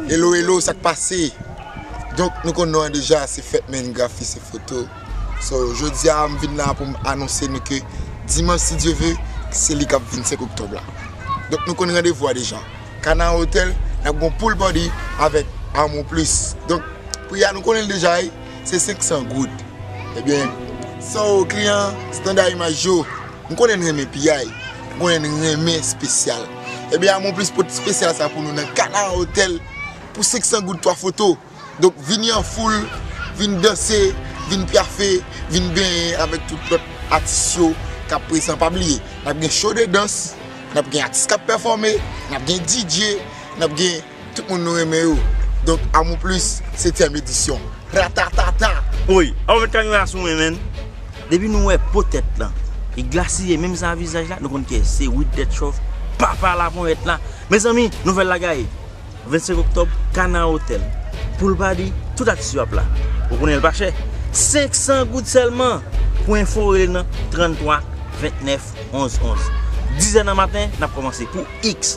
Hello hello sak pase donk nou konn nou an deja se fèt men grafi se foto so jodia m vin la pou m anonse nou ke dimanch si Dye ve se li kap vin 5 oktòb la donk nou konn randevou a deja kana hotel nap gon pool party avèk amour plus donk pri a nou konnen l deja wi se 500 goud ebyen so kliyan standard image yo m konnen n renmen piyay m konnen n renmen spesyal. Ebyen Amour Plus pot spesyal sa pou nou nan Canara Hotel pou 500 goud 3 foto. Donk vini an foul, vin danse, vin pyafe, vin benyen avèk tout lòt atis yo kap prezan. Pa bliye nap gen show de dans, nap gen atis kap pèfòme, nap gen DJ, nap gen. Tout moun nou renmen yo Donk Amour Plus setyèm edisyon Ratatata! Woy! Aw met kay la sou mwen menn! Depi nou wè po tèt lan li glasiye menm jan a vizaj la nou konn kiyès li se Widetrove papa la ponyèt la Mezanmi nouvèl la gaye 25 oktòb Canard Hotel Pool Party tout atis yo ap la Ou konnen l pa chè 500 goud sèlman Pou enfo rele nan 33 29 11 11 Dizè nan maten n ap kòmanse pou Ix.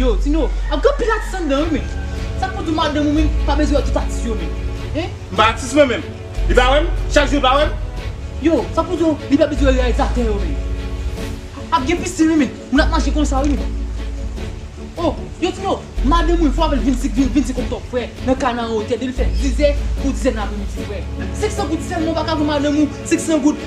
Yo, Tino, ap gen anpil atis anndan wi men. Sa k pou di madanm ou menm pa bezwen wè tout atis yo menm? Hein? M pa atis mwen menm. Li pa wè m? Chak jou li pa wè m? Yo, sa k pou di w li pa bezwen wè reyalizatè yo menm? Ap gen pisin wi men, moun ap mache konsa wi men. Oh, yo Tino, madanm mwen fò avè l vin sik vin vin sik Oktòb frè, nan ka nan wotè depi l fè dizè pou dizè nan apremidi frè. 500 goud sèlman ou pa ka voye madanm ou 500 goud?